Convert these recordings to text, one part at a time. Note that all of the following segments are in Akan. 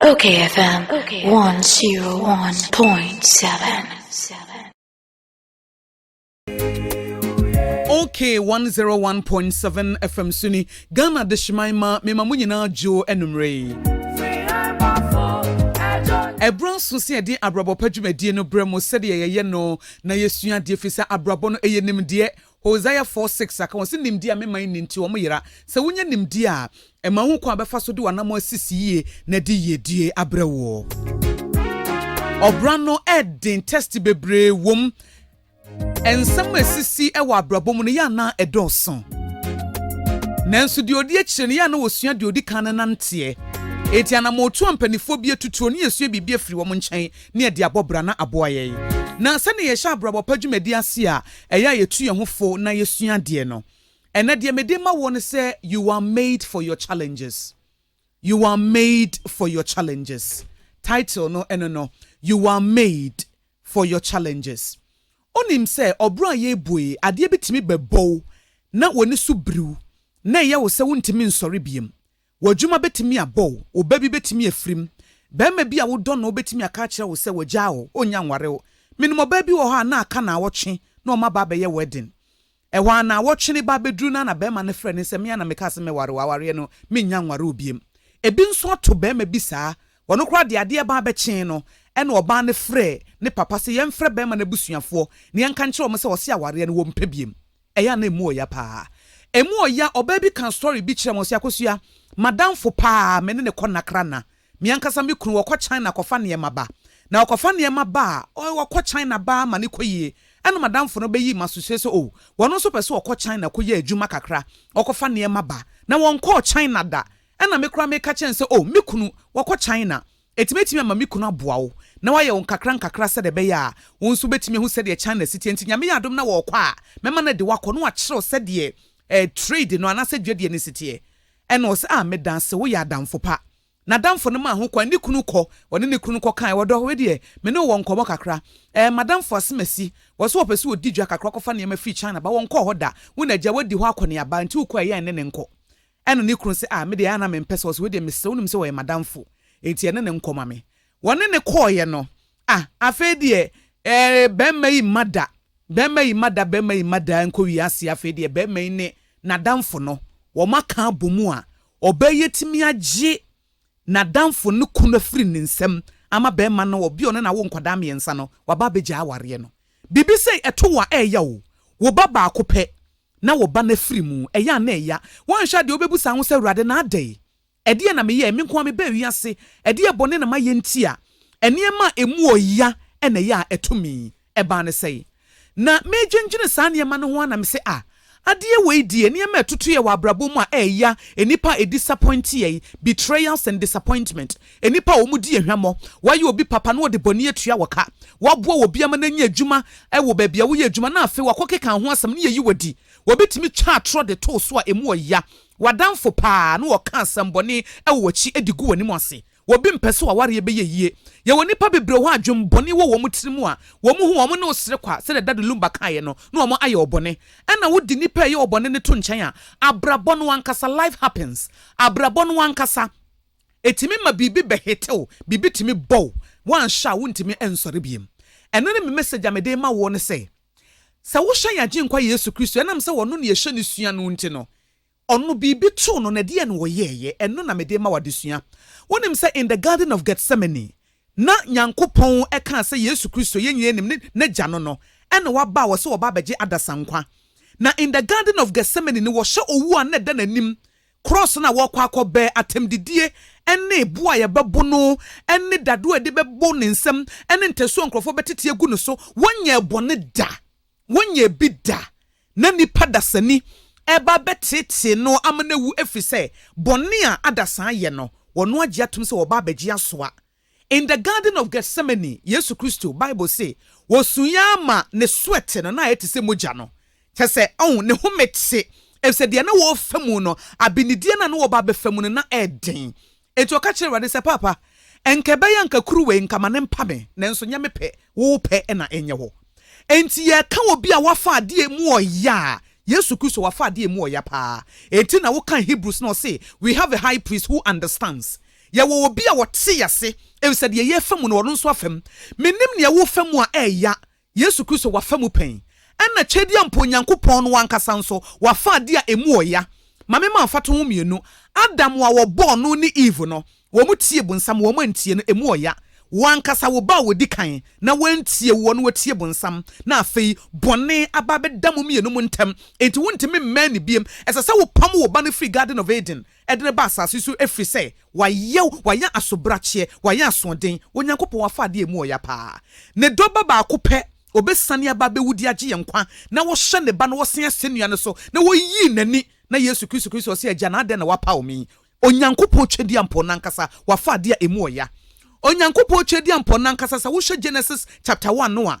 Okay, FM 101.7. Okay, 101.7 FM Suni, Ghana de Shimaima, Mema Munyina Jo Enumre. ɛberɛ nso sɛ yɛde abrabɔ pa dwumadie no berɛ mu sɛdeɛ yɛyɛ no na yɛsua adeɛ firi sɛ abrabɔ no ɛyɛ nimdeɛ Hosea four six a, ka wɔn sɛ nimdeɛ a me man nni nti wɔn yera. Sɛ wonya nimdeɛ a, ɛma wohu kwan a bɛfa so de w'anammɔn asisi yie na de yiedie abrɛ woɔ. Ɔbra no ɛden test bebree wom. Nsɛm a ɛsisi wɔ abrabɔ mu no yɛ anaa ɛdɔɔso. Nanso deɛ ɔdi akyire no yɛ ana wɔsua deɛ ɔdi kan no nanteɛ. Eti anamɔtu a mpanimfoɔ bi atutuo ne yɛsua biribi afiri wɔn nkyɛn ne ɛde abɔ bra na aboa yɛn. Na sɛnea yɛhyɛ abrabɔ pa dwumadi ase a, Ɛyɛ a yɛtu yɛn ho fo na yɛsua adeɛ no. Ɛnnɛ deɛ mede rema woɔ ne sɛ, you are made for your challenges. You are made for your challenges. Title no ɛno no, You are made for your challenges. Wonim sɛ ɔbrɔ a yɛrebu yi, adeɛ bi tumi bɛbɔ wo na w'ani so biri wo na ɛyɛ wo sɛ wontumi nsɔre biom. W'adwuma bɛtumi abɔ wo, wo ba bi bɛtumi afirim, barima bi a wodɔ no bɛtumi aka akyerɛ wo sɛ wagyaa wo, ɔnnya nware wo. Menim ɔbaa bi wɔ hɔ a na aka naawɔtwe na ɔma ba abɛyɛ wedding. Ɛhɔ ara naawɔtwe no ba bɛduru no ara na barima no frɛ no sɛ, me ara na mekaa sɛ mɛware wo, awareɛ no mennya nware wo biom. Ɛbi nso ato barima bi saa, ɔno koraa deɛ adeɛ baa bɛkyee no na ɔbaa no frɛɛ ne papa sɛ yɛmfrɛ barima no abusuafoɔ na yɛnka nkyerɛ wɔn sɛ ɔse awareɛ no wɔmpɛ biom. Ɛyɛ a na ɛmu ɔya paa. Ɛmu ɔya, ɔbaa bi kaa story bi kyerɛɛ me, ɔse, Akosua, m'adamfo paa a me ne no kɔ Nakra na, me ankasa me kunu, ɔkɔ China kɔfa nneɛma ba. Na ɔkɔfa nneɛma ba a, ɔy, ɔkɔ China ba ara ma no kɔ yie. Ɛna m'adamfo no bɛyii m'asosie sɛ, oh, ɔno nso pɛ sɛ ɔkɔ China kɔyɛ adwuma kakra, ɔkɔfa nneɛma ba. Na ɔnkɔɔ China da. Ɛna me koraa meka kyerɛɛ no sɛ, oh, me kunu, ɔkɔ China. Enti mɛtumi ama me kunu aboa wo na wayɛ wo nkakrankakra sɛdeɛ ɛbɛyɛ a wo nso wobɛtumi ahu sɛdeɛ China si teɛ. Enti Nyame yɛ adom na wɔɔkɔ a, mɛma no adi wakɔ na wakyerɛw sɛdeɛ eh trade no anaasɛ dwadie no si teɛ. Ɛna ɔse ah medaase woyɛ adamfo pa. Nadamfo no maa ho kwan ne kunu kɔ, ɔne ne kunu no kɔ kae ɔdɔ wedeɛ me ne wo wɔ nkɔmɔ kakra eh madamfo Asemasi wɔse wɔpɛ sɛ wɔdi dwa kakra kɔfa nneɛma firi China ba wɔnkɔɔ hɔ da wo na agya wadi hɔ akɔneaba enti wokɔ a ɛyɛ a ɛne ne nkɔ Ɛnna ne kunu se, Ah, me deɛ, a na mempɛ sɛ ɔse, Wei deɛ, mesrɛ, wonim sɛ ɔyɛ m'adamfo, enti ɛne no nkɔ ma me. Wɔne no kɔeɛ no, ah, afei deɛ, eh, barima yi mma da, barima yi mma da, barima yi mma da ara nkɔwie aseɛ, afei deɛ, barima yi ne n'adamfo no, wɔaka abɔ mu a ɔbaa yi atumi agye n'adamfo no kunu afiri ne nsam ama barima no, ɔbea a ɔne no awo nkwadaa mmiɛnsa no, waba abɛgyae awareɛ no. Biribi sei ɛto wo a, ɛreyɛ wo, wo ba baako pɛ, na wo ba no afiri mu. Ɛyɛ a na ɛya. Woanhwɛ a deɛ wobɛbu saa ho sɛ, Awurade, na adɛn? Ɛdeɛn na meyɛɛ? Me nko ara mebaa wiase. Ɛdeɛn bɔne na mayɛ nti a nneɛma a ɛmu wɔ ya na ɛyɛ a ɛto me yi? Ɛbaa no sɛn? Na medwendwene saa nneɛma no ho ara na mese, Ah, adeɛ wei deɛ, nneɛma a ɛtotoeɛ wɔ abrabɔ mu a ɛyɛ ya, nnipa a ɛdisapɔnteɛ yi, betrayals and disappointment, Nnipa a wɔdi hwammɔ, wɔyɛ obi papa na wɔde bɔne atua wo ka, wɔboa obi ama no anya adwuma wɔ baabi a woyɛ adwuma na afei wɔakɔkeka ho asɛm na yɛyi wo adi. Obi tumi twa atorɔ de to wo so a emu yɛ ya, w'adamfo paa, na ɔka asɛmmɔne wɔ w'akyi de gu w'anim ase. Obi mpɛ sɛ w'awareɛ bɛyɛ yie. Yɛwɔ nnipa bebree hɔ a adwemmɔne wɔ wɔn tirim a wɔn ho a wɔne wo sere kwa, sɛdeɛ Dade Lumba kaeɛ no, na wɔn ayɛ wo bɔne. Ɛna wode nnipa a ɛyɛ wo bɔne no to nkyɛn a, abrabɔ no ankasa, life happens, abrabɔ no ankasa, Ɛtumi ma biribi bɛhete wo, biribi tumi bɔ wo, woanhwɛ a wontumi nsɔre bio. Ɛno ne me message a mede rema woɔ no sɛ, sɛ wohyɛ yɛn Agyenkwa Yesu Kristo, ɛnam sɛ Ɔno na yɛhyɛ no sua no nti no, Ɔno biribi too no na ɛdeɛn na Ɔyɛeɛ? Ɛno na mede rema wo adesua. Wonim sɛ in the garden of Gethsemane, na Nyankopɔn kaa sɛ Yesu Kristo, yɛn nyinaa nim ne, N'Agya no no, ɛna waba a wɔse wɔba abɛgye adasankwa. Na in the garden of Gethsemane no wɔhyɛ owuo a na ɛda n'anim, Krɔs no a wɔrekɔ akɔbɛ, atɛmdidie, ne bo a yɛbɛbo no, ne dadeɛ a yɛde bɛbo ne nsam, ne ntasuo a nkurɔfoɔ bɛtete agu ne so, wɔnyɛɛ bɔne da. Wɔnyɛɛ bi da. Na nnipa dasani reba abɛteetee no ama no awu ɛfiri sɛ, bɔne a adasaa yɛ no, wɔn agye atom sɛ wɔba abɛgye asoa. In the Garden of Gethsemane, Yesu Kristo, Bible se, wɔsuui ara ma ne sweat no na ayɛ te sɛ mogya no. Kyerɛ sɛ, ɔn, ne home te, efisɛ deɛ na wɔrefa mu no, abenedie no a na wɔreba abɛfa mu no, na ɛyɛ den. Enti ɔka kyerɛɛ Awurade sɛ, Paapa, nka ɛbɛyɛ anka kuruwa yi, nka ma no mpa me, nanso nyɛ me pɛ, wo pɛ na ɛnyɛ hɔ. Enti yɛreka obi a wafa adeɛ mu ɔya a, Yesu Kristo, wafa adeɛ mu ɔya paa. Enti na wokan Hebrews na ɔse, We have a high priest who understands. Yɛwɔ obi a ɔte yɛn ase, efisɛ deɛ yɛrefa mu no, ɔno nso afa mu. Menim nea worefa mu a ɛreya. Yesu Kristo, wafa mu pɛn. Ɛnna kyɛdi a mpo Onyankopɔn no ankasa nso, wafa ade a emu ɔya. Ma memma mfatoho mmienu. Adam a wɔbɔɔ no ne Eve no, wɔtiee bonsam, wɔantie no. Emu ɔya. Wo ankasa, wo ba a ɔdi kan, na wantie woɔ na watie bonsam, na afei bɔne aba abɛda mo mmienu mo ntam, enti wontumi mmɛn no bio. Ɛsɛ sɛ wopam wo ba no firi Garden of Eden. Ɛde no ba asase so ɛfiri sɛ wayɛ wo, wayɛ asobrakyeɛ, wayɛ asoɔden, Onyankopɔn wafa adeɛ a ɛmu ɔya paa, Ne dɔ ba baako pɛ, ɔbɛsiane aba abɛwu de agye yɛn nkwa, na wɔhyɛ Ne Ba no wɔ se asɛnnua no so, na wɔyii N'ani, na Yesu Kristo Kristo ɔse, Agya, na adɛn na woapaw me yi? Onyankopɔn Twɛdiampɔ no ankasa wafa adeɛ a ɛmu ɔya. Onyankopɔn Twɛdiampɔ no ankasa, sɛ wohwɛ Genesis chapter one no a,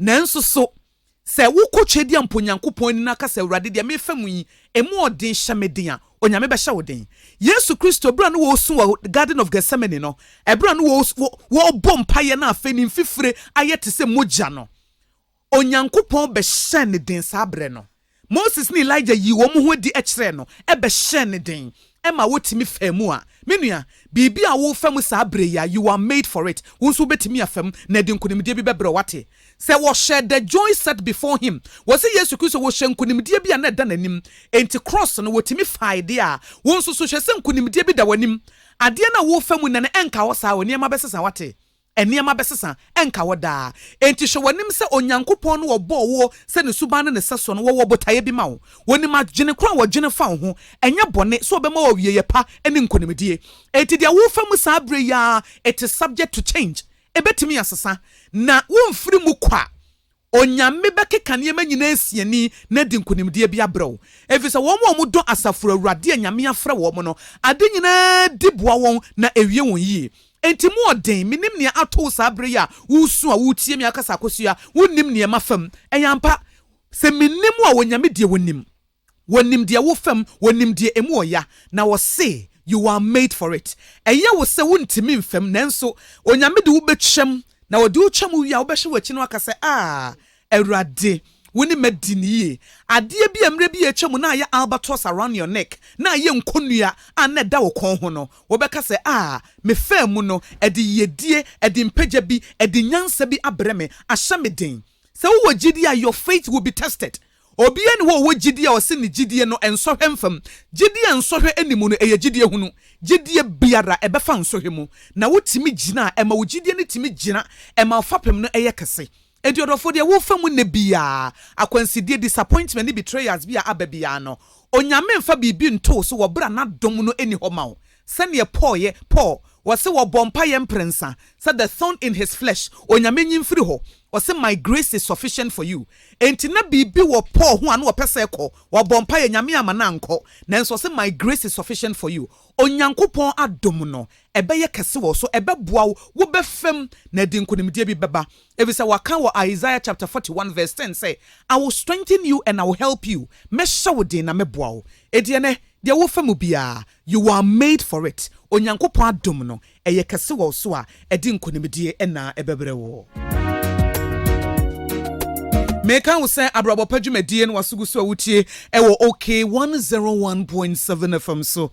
Nanso so sɛ wokɔ Twedeɛ mpo Nyankopɔn ani na ka sɛ, Awurade, deɛ merefa mu yi, ɛmu ɔden hyɛ me den a, Onyame bɛhyɛ wo den? Yesu Kristo, berɛ a na ɔresu wɔ Garden of Gethsemane no, ɛberɛ a na ɔrebɔ mpaeɛ na afei ne mfifire ayɛ te sɛ mogya no, Onyankopɔn bɛhyɛɛ no den saa berɛ no. Moses ne Elijah yii wɔn ho adi kyerɛɛ no bɛhyɛɛ no den ma otumi faa mu a, me nua, biribi a worefa mu saa bere yi ara, you are made for it. Wo nso wubetumi afa mu, na ɛde nkonimdie bi bɛbrɛ wo. Woate? Sɛ wɔhyɛɛ The Joy Set Before Him, wɔse Yesu Kristo, wɔhyɛɛ nkonimdie bi a na ɛda n'anim. Enti krɔɔs no, otumi fae deɛ a, wo nso so hwɛ sɛ nkonimdie bi da w'anim. Adeɛ no a worefa mu nnɛ no, ɛnka hɔ saa o, nneɛma bɛsesa. Woate? Nneɛma bɛsesa, ɛnka hɔ daa. Enti hwɛ w'anim sɛ Onyankopɔn no a ɔbɔɔ woɔ sɛ ne suban ne ne sɛsoɔ no, wɔwɔ botaeɛ bi ma wo. Wɔnim adwene korɔ a wɔdwene fa wo ho, ɛnyɛ bɔne, sɛ ɔbɛma wo awieeɛ pa ne nkonimdie. Enti deɛ worefa mu saa berɛ yi ara, it is subject to change, ɛbɛtumi asesa, na womfiri mu kwa. Onyame bɛkeka nneɛma nyinaa asi ani na adi nkonimdie bi abrɛ wo, ɛfiri sɛ wɔn a wɔdɔ asafo Awurade a Nyame afrɛ wɔn no, ade nyinaa di boa wɔn na ɛwie wɔn yie. Enti mu ɔden, menim nea ato wo saa berɛ yi a woresu a woretie me akasa akɔsua wonnim nea ɛma fam. Ɛyɛ ampa, sɛ mennim wo a Onyame deɛ ɔnim. Wɔnim deɛ wofam, wɔnim deɛ emu wɔ ya, na wɔse, You are made for it. Ɛyɛ wo sɛ wontumi mfam, nanso Onyame de wo bɛtwam, na ɔde wo twam wie a, wobɛhwɛ w'akyi na woaka sɛ, Ah, Awurade, wo ne m'adi no yie. Adeɛ bi a mmerɛ bi a atwa mu na ayɛ albatross around your neck, na ayɛ nkɔnnua a na ɛda wo kɔn ho no, wobɛka sɛ, Ah, mefaa mu no, ɛde yiedie, ɛde mpagya bi, ɛde nyansa bi abrɛ me, ahyɛ me den. Sɛ wowɔ gyidie a, your faith will be tested. Obiara nni hɔ a ɔwɔ gyidie a ɔse ne gyidie no nsɔhwɛ mfam. Gyidie a nsɔhwɛ nni mu no, ɛyɛ gyidie hunu. Gyidie biara, ɛbɛfa nsɔhwɛ mu. Na wotumi gyina a, ɛma wo gyidie no tumi gyina, ɛma wo fapem no yɛ kɛse. Enti ɔdɔfoɔ, deɛ worefa mu nnɛ biara, akwansideɛ, disappointment ne betrayals bi a aba biara no, Onyame mfa biribi ntoo so wɔ berɛ a N'adom no nni hɔ ma wo. Sɛdeɛ Paul yɛ, Paul, ɔse wɔbɔ mpaeɛ mprensa, sɛ the thorn in his flesh, Onyame nyi mfiri hɔ, ɔse my grace is sufficient for you, enti na biribi wɔ Paul ho a na ɔpɛ sɛ ɛkɔ, wabɔ mpaeɛ, Nyame amma no ankɔ, nanso ɔse my grace is sufficient for you, Onyankopɔn adom no, ɛbɛyɛ kɛse wɔ wo so, ɛbɛboa wo, wobɛfam, na ɛde nkonimdie bi bɛba, ɛfisɛ wɔaka wɔ Isaiah chapter forty one verse ten sɛ, I will strengthen you and I will help you, mɛhyɛ wo den na mɛboa wo, enti ɛnnɛ, deɛ wofa mu biara, You are made for it, Onyankopɔn adom no, ɛyɛ kɛse wɔ wo so a, ɛde nkonimdie na ɛbɛbrɛ wo. Meka wo sɛ abrabɔ pa dwumadie no wasogu so a wotie ɛwɔ OK 101.7 FM so.